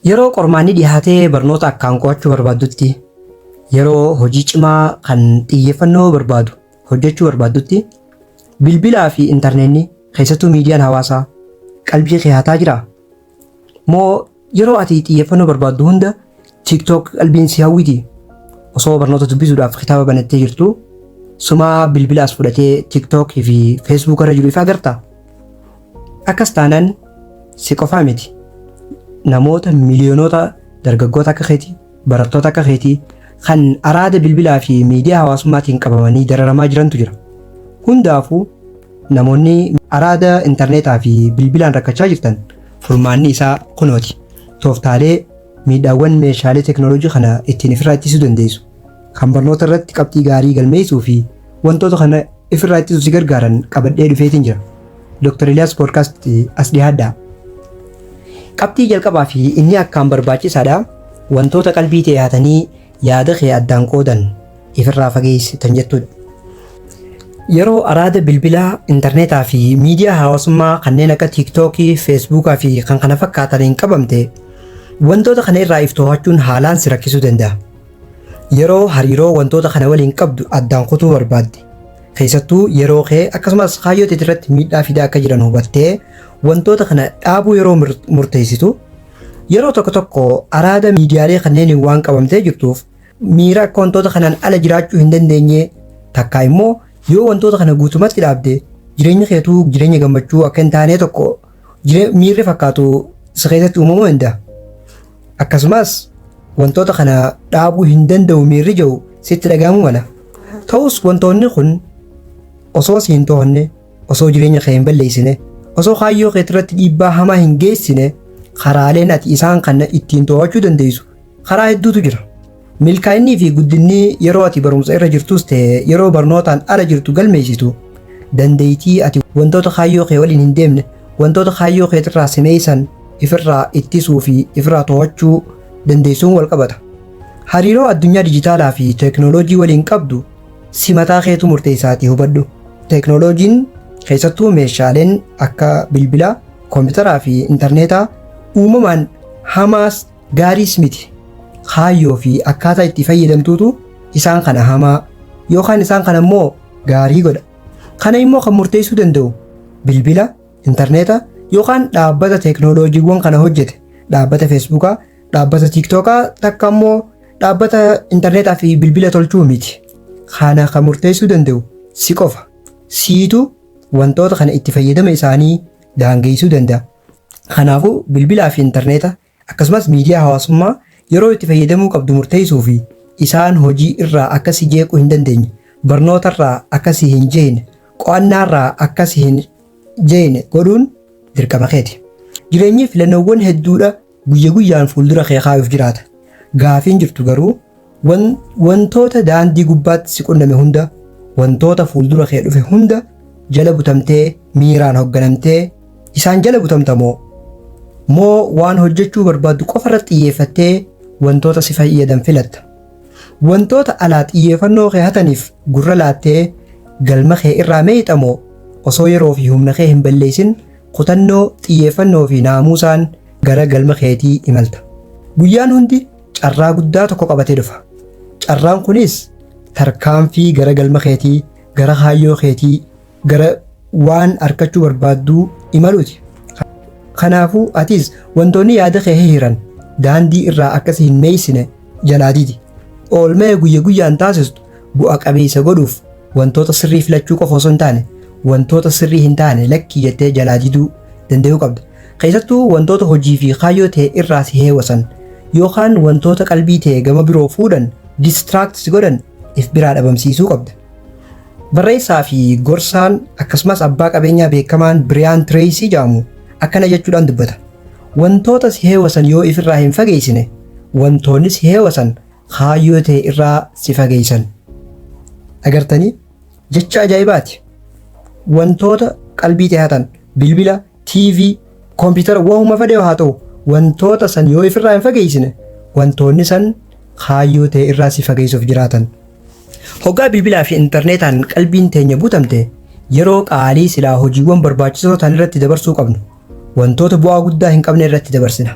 Yeroo qormaanni dhihaatee barnoota akkaan qo'achuu barbaaddutti, yeroo hojii cimaa kan xiyyeeffannoo barbaadu hojjechuu barbaaddutti, bilbilaa fi intarneenni keessattuu miidiyaan hawaasaa qalbii kee hataa jiraa? Moo yeroo ati xiyyeeffannoo barbaaddu hunda TikTok qalbiin si hawwiti? Osoo barnoota dubbisuudhaaf kitaaba banattee jirtuu, sumaa bilbila as fudhatee TikTok fi Facebook irra jiru ifa agartaa? Akkas taanaan si qofaa miti namoota miliyoonota dargaggoota akka keetii barattoota akka keetii kan araada bilbilaa fi miidiyaa hawaasummaatiin qabamanii dararamaa jirantu jira. Hundaafuu namoonni araada intarneetaa fi bilbilaan rakkachaa jirtan furmaanni isaa kunooti. Tooftaalee Miidhaawwan meeshaalee teknolojii kana ittiin ifirraa ittisuu dandeessu, kan barnoota irratti qabxii gaarii galmeessuu fi wantoota kana ifirraa ittisuuf si gargaaran qabadhee dhufeetiin jira. Dr. Eliyaas Podcast as dhihaadhaa. Qabxii jalqabaa fi inni akkaan barbaachisaadha. Wantoota qalbii tee hatanii Yaada kee addaan qoodan ifirraa fageessi tan jettudha. Yeroo araada bilbilaa, intarneetaa fi miidiyaa hawaasummaa kanneen akka tiiktookii, feesbuukaa fi kan kana fakkaataniin qabamte wantoota kana irraa if to'achuun haalaan si rakkisuu danda'a. Yeroo hariiroo wantoota kana waliin qabdu addaan kutuu barbaadde keessattuu yeroo kee akkasumas kaayyoo teetirratti miidhaa fidaa akka jiran hubattee wantoota kana dhaabuu yeroo murteessitu Yeroo tokko tokko araada miidiyaalee kanneeniin waan qabamtee jirtuuf miira akka wantoota kanaan ala jiraachuu hin dandeenye takkaa immoo yoo wantoota kana guutumatti dhaabde jireenyi keetuu jireenya gammachuu akka hin taanee tokko jire- miirri fakkaatu si keessatti uumamuu danda'a. Akkasumas wantoota kana dhaabuu hin danda'u miirri jiru sitti dhaga'amuu mala. Ta'us wantoonni kun osoo si hin to'anne Osoo jireenya kee hin balleessine, osoo kaayyoo kee irratti dhiibbaa hamaa hin geessine, karaaleen ati isaan kana ittiin to'achuu dandeessu karaa hedduutu jira. Milkaa'innii fi guddinni yeroo ati barumsa irra jirtus ta'e yeroo barnootaan ala jirtu galmeessitu dandeettii ati wantoota kaayyoo kee waliin hin deemne wantoota kaayyoo kee irraa simeessan ifirraa ittisuu fi ifirraa to'achuu dandeessuun wal qabata. Hariiroo addunyaa dijitaalaa fi teeknooloojii waliin qabdu Si mataa keetu murteessaatii hubadhu. Teeknooloojiin keessattuu meeshaaleen akka bilbilaa, kompiitaraa fi intarneetaa uumamaan hamaas gaariis miti. Kaayyoo fi akkaataa itti fayyadamtuutu isaan kana hamaa yookaan isaan kana immoo gaarii godha. Kana immoo kan murteessuu danda'u bilbila, intarneeta yookaan dhaabbata teeknooloojiiwwan kana hojjete dhaabbata feesbuukaa Dhaabbata tiiktookaa takka immoo dhaabbata intarneetaa fi bilbila tolchuu miti. Kana kan murteessuu danda'u si qofa. Siitu wantoota kana itti fayyadama isaanii daangeessuu danda'a. Kanaafuu bilbilaa fi intarneeta akkasumas miidiyaa hawaasummaa yeroo itti fayyadamuu qabdu murteessuu fi isaan hojii irraa akka si jeequu hin dandeenye, barnoota irraa akka si hin jeeqne, qo'annaa irraa akka si hin jeeqne godhuun dirqama keeti. Jireenyi filannoowwan hedduudha. Guyya guyyaan fuuldura kee kaayuuf jiraata. Gaafiin jirtu garuu wan, wantoota daandii gubbaatti si qunname hunda, wantoota fuuldura kee dhufe hunda jala butamtee miiraan hogganamtee isaan jala butamta moo? Moo waan hojjechuu barbaaddu qofa irratti xiyyeeffattee wantoota si fayyadan filatta? Wantoota alaa xiyyeeffannoo kee hataniif gurra laattee galma kee irraa meeyxa moo? Osoo yeroo fi humna kee hin balleessin Kutannoo, xiyyeeffannoo fi naamuusaan gara galma keetii imalta. Guyyaan hundi carraa guddaa tokko qabatee dhufa. Carraan kunis tarkaanfii gara galma keetii, gara kaayyoo keetii, gara waan arkachuu barbaadduu imaluuti. Kanaafuu atis wantoonni yaada kee hihiran daandii irraa akka si hin meeysine jalaa didi. Oolmaya guyya guyyaan taasistu Bu'a qabeessa godhuuf wantoota sirrii filachuu qofa osoo hin taane, wantoota sirrii hin taane lakki jettee jalaa diduu dandayuu qabda. Keessattuu wantoota hojii fi kaayyoo tee irraa si heewasan yookaan wantoota qalbii tee gama biroo fuudhan, distract, si godhan if biraa dhabamsiisuu qabda. Barreessaa fi gorsaan akkasumas abbaa qabeenyaa beekamaan Biriyaan Tireeysii jedhamu akkana jechuudhaan dubbata, Wantoota si heewasan yoo if irraa hin fageeysine, wantoonni si heewasan kaayyoo ta'e irraa si fageessan. Agartanii? Jecha ajaa'ibaati. Wantoota qalbii ta'e hatan bilbila, TV, koompitara wahuma fedhe haa ta'u wantoota san yoo ifirraa hin fageessine wantoonni san kaayyoo ta'e irraa si fageessuuf jiraatan. Hoggaa bilbilaa fi intarneetaan qalbiin teenya guutamte yeroo qaalii silaa hojiiwwan barbaachisoo ta'an irratti dabarsuu qabnu Wantoota bu'aa guddaa hin qabne irratti dabarsina.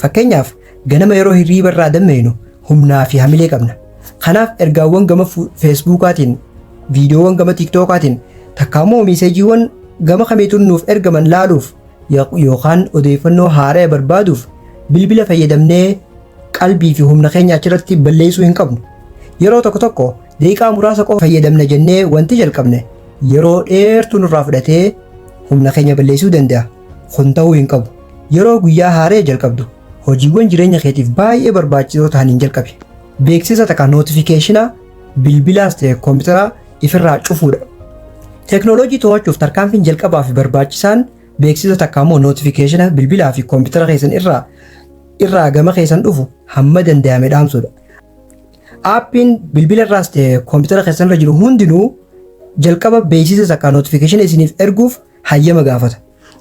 Fakkeenyaaf, ganama yeroo hirriiba irraa dammaqnu humnaa fi hamilee qabna. Kanaaf ergaawwan gama fu- Feesbuukaatiin, viidiyoowwan gama Tiiktookaatiin, takkaa immoo miiseejiiwwan gama kamiituun nuuf ergaman laaluuf yo- yookaan odeeffannoo haaraya barbaaduuf bilbila fayyadamnee qalbii fi humna keenya achirratti balleessuu hin qabnu. Yeroo tokko tokko Daqiiqaa muraasa qofa fayyadamna jennee wanti jalqabne yeroo dheertuu nurraa fudhatee humna keenya balleessuu danda'a. Kun ta'uu hin qabu. Yeroo guyyaa haaree jalqabdu hojiiwwan jireenya keetiif baay'ee barbaachisoo ta'aniin jalqabi. Beeksisa takka nootifikeeshina bilbilaas ta'e kompiitaraa ifirraa cufuudha. Teknooloojii to'achuuf tarkaanfiin jalqabaa fi barbaachisaan beeksisa takka ammoo nootifikeeshina bilbilaa fi kompiitara keessan irraa irraa gama keessan dhufu hamma danda'ame dhaamsuudha. Aappiin bilbila irraas ta'e koompitara keessan irra jiru hundinuu jalqaba beeksisa sakaa notification isiniif erguuf hayyama gaafata.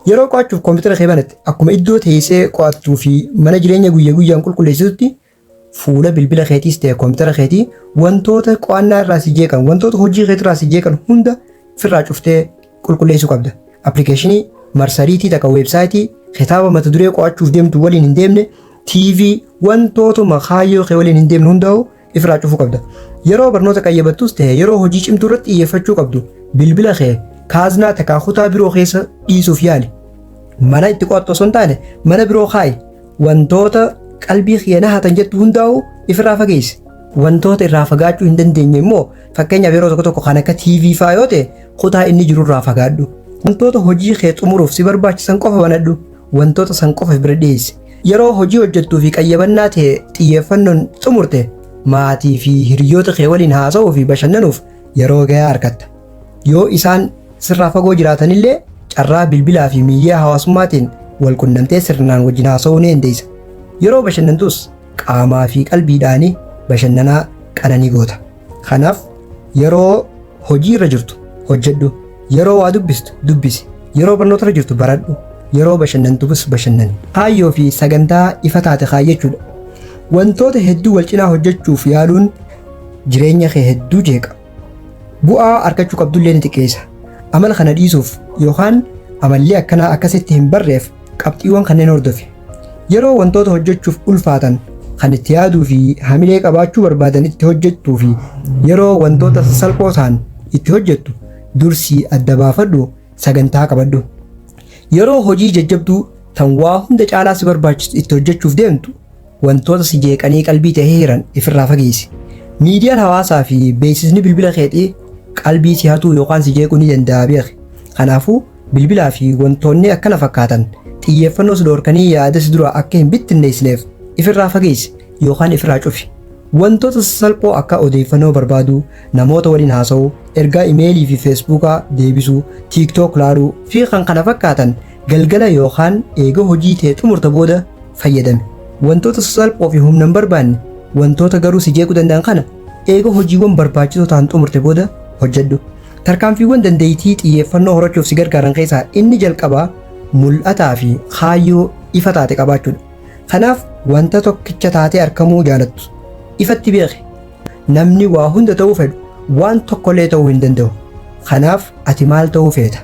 Yeroo qo'achuuf koompitara kee banatte akkuma iddoo teessee qo'attuu fi mana jireenya guyya guyyaan qulqulleessitutti fuula bilbila keetiis ta'e koompitara keetii wantoota qo'annaa irraa si jeeqan wantoota hojii keetii irraa si jeeqan hunda firraa cuftee qulqulleessuu qabda. Appilikeeshinii, marsariitii takka weebsaayitii, kitaaba mata duree qo'achuuf deemtu waliin hin deemne, TV, wantootuma kaayyoo kee waliin hin deemne hundaa'u ifirraa cufuu qabda. Yeroo barnoota qayyabattus ta'e yeroo hojii cimtuu irratti xiyyeeffachuu qabdu bilbila kee kaaznaa takkaa kutaa biroo keessa dhiisuuf yaali. Mana itti qo'attu osoo hin taane mana biroo kaa'i. Wantoota qalbii kiyya na hatan jettu hundaa'u ifirraa fageessi. Wantoota irraa fagaachuu hin dandeenye immoo Fakkeenyaaf yeroo tokko tokko kan akka TV faa yoo ta'e kutaa inni jirurraa fagaadhu. Wantoota hojii kee xumuruuf si barbaachisan qofa banadhu. Wantoota san qofa bira dhiyeessi. Yeroo hojii hojjettuu fi qayyabannaa ta'e xiyyeeffannoon xumurte maatii fi hiriyoota kee waliin haasa'uu fi bashannanuuf yeroo gahaa argatta. Yoo isaan sirraa fagoo jiraatanillee carraa bilbilaa fi miidiyaa hawaasummaatiin wal qunnamtee sirnaan wajjin haasa'uu ni dandeessa. Yeroo bashannantus Qaamaa fi qalbiidhaan bashannanaa qananii goota. Kanaaf yeroo hojii irra jirtu hojjedhu, yeroo waa dubbistu dubbisi, yeroo barnoota irra jirtu baradhu, yeroo bashannantus bashannani. Kaayyoo fi sagantaa ifa taate kaayyachuudha. Wantoota hedduu wal cinaa hojjechuuf yaaluun jireenya kee hedduu jeeqa. Bu'aa arkachuu qabdullee ni xiqqeessa. Amala kana dhiisuuf yookaan amallee akkanaa akka sitti hin barreef qabxiiwwan kanneen hordofi. Yeroo wantoota hojjechuuf ulfaatan kan itti yaaduu fi hamilee qabaachuu barbaadan itti hojjettuu fi yeroo wantoota salphoo ta'an itti hojjettu dursii adda baafadhu sagantaa qabadhu. Yeroo hojii jajjabduu tan waa hunda caalaa si barbaachisu itti hojjechuuf deemtu Wantoota si jeeqanii qalbii tee hiran ifirraa fageessi. Miidiyaan hawaasaa fi beeksisni bilbila keetii qalbii si hatuu yookaan si jeequu ni danda'a beeki. Kanaafuu, bilbilaa fi wantoonni akkana fakkaatan xiyyeeffannoo si dhoorkanii yaada si duraa akka hin bittinneessineef ifirraa fageessi yookaan ifirraa cufi. Wantoota sasalphoo akka odeeffannoo barbaaduu, namoota waliin haasa'uu, ergaa imeelii fi feesbuukaa deebisuu, TikTok laaluu, fi kkf Galgala yookaan eega hojii tee xumurte booda fayyadami. Wantoota sasalphoo fi humna hin barbaanne, wantoota garuu si jeequu danda'an kana eega hojiiwwan barbaachisoo ta'an xumurte booda hojjedhu. Tarkaanfiiwwan dandeettii xiyyeeffannoo horachuuf si gargaaran keessaa inni jalqabaa mul'ataa fi kaayyoo ifa taate qabaachuudha. Kanaaf wanta tokkicha taatee arkamuu jaalattu ifatti beeki. Namni waa hunda ta'uu fedhu waan tokkollee ta'uu hin danda'u. Kanaaf ati maal ta'uu feeta?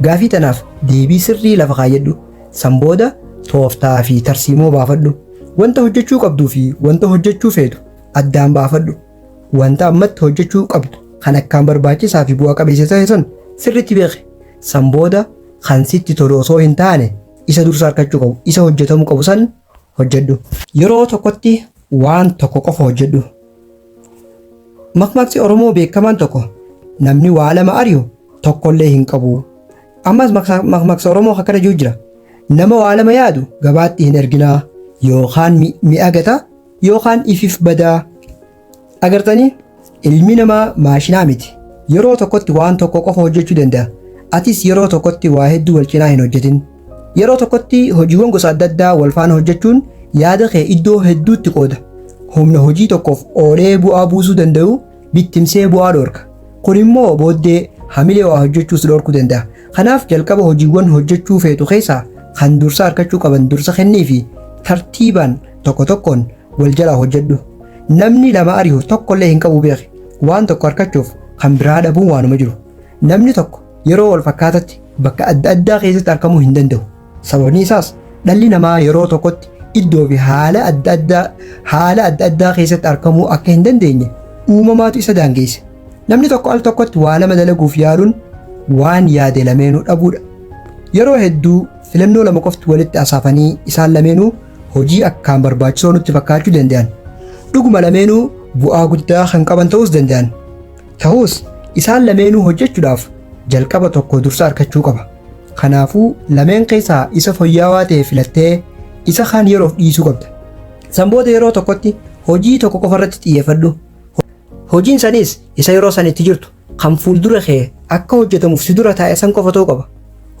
Gaafii tanaaf deebii sirrii lafa kaayyadhu. San booda tooftaa fi tarsiimoo baafadhu. Wanta hojjechuu qabduu fi wanta hojjechuu feetu addaan baafadhu. Wanta ammatti hojjechuu qabdu kan akkaan barbaachisaa fi bu'a qabeessa ta'e san sirriitti beeki. San booda kan sitti tolu osoo hin taane isa dursa argachuu qabu, isa hojjetamuu qabu san hojjedhu. Yeroo tokkotti waan tokko qofa hojjedhu. Makmaksi Oromoo beekamaan tokko namni waa lama ari'u tokkollee hin qabu. Ammas makmaksa Oromoo akkana jiru jira. Nama waa lama yaadu gabaatti hin erginaa yookaan mi'a gata yookaan ifif badaa. Agartanii? Ilmi namaa maashinaa miti. Yeroo tokkotti waan tokko qofa hojjechuu danda'a. Atis yeroo tokkotti waa hedduu wal cinaa hin hojjetin. Yeroo tokkotti hojiiwwan gosa adda addaa wal faana hojjechuun yaada kee iddoo hedduutti qooda. Humna hojii tokkoof oolee bu'aa buusuu danda'u bittimsee bu'aa dhoorka. Kun immoo booddee hamilee waa hojjechuu si dhoorkuu danda'a. Kanaaf jalqaba hojiiwwan hojjechuu feetu keessaa kan dursa argachuu qaban dursa kenniifi tartiibaan tokko tokkoon wal jalaa hojjedhu namni nama ari'u tokkollee hin qabu beeki waan tokko harkachuuf kan biraa dhabuun waanuma jiru namni tokko yeroo wal fakkaatatti bakka adda addaa keessatti argamuu hin danda'u sababni isaas dhalli namaa yeroo tokkotti iddoo fi haala adda addaa haala adda addaa keessatti argamuu akka hin dandeenye uumamaatu isa daangeesse namni tokko al tokkotti waa lama dalaguuf yaaluun waan yaade lameenuu dhabuudha yeroo hedduu filannoo lama qofti walitti asaafanii isaan lameenuu hojii akkaan barbaachisoo nutti fakkaachuu danda'an. Dhuguma lameenuu bu'aa guddaa kan qaban ta'uus danda'an. Ta'us isaan lameenuu hojjechuudhaaf jalqaba tokko dursa argachuu qaba. Kanaafuu lameen keessaa isa foyyaawaa ta'e filattee isa kaan yeroof dhiisuu qabda. San booda yeroo tokkotti hojii tokko qofa irratti xiyyeeffadhu. Hojiin sanis isa yeroo san itti jirtu Kan fuuldura kee akka hojjetamuuf si dura taa'e san qofa ta'uu qaba.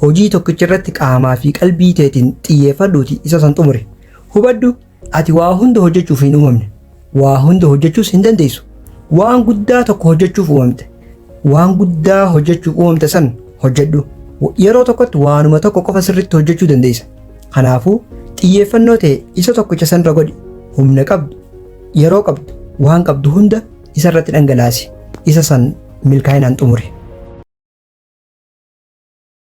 Hojii tokkicha irratti qaamaa fi qalbii teetiin xiyyeeffadhuuti isa san xumuri. Hubadhu ati waa hunda hojjechuuf hin uumamne. Waa hunda hojjechuus hin dandeessu. Waan guddaa tokko hojjechuuf uumamte. Waan guddaa hojjechuuf uumamte san hojjedhu. Yeroo tokkotti waanuma tokko qofa sirriitti hojjechuu dandeessa. Kanaafuu xiyyeeffannoo ta'e isa tokkicha sanirra godhi. Humna qabdu, yeroo qabdu, waan qabdu hunda isa irratti dhangalaasi, isa san milkaa'inaan xumuri.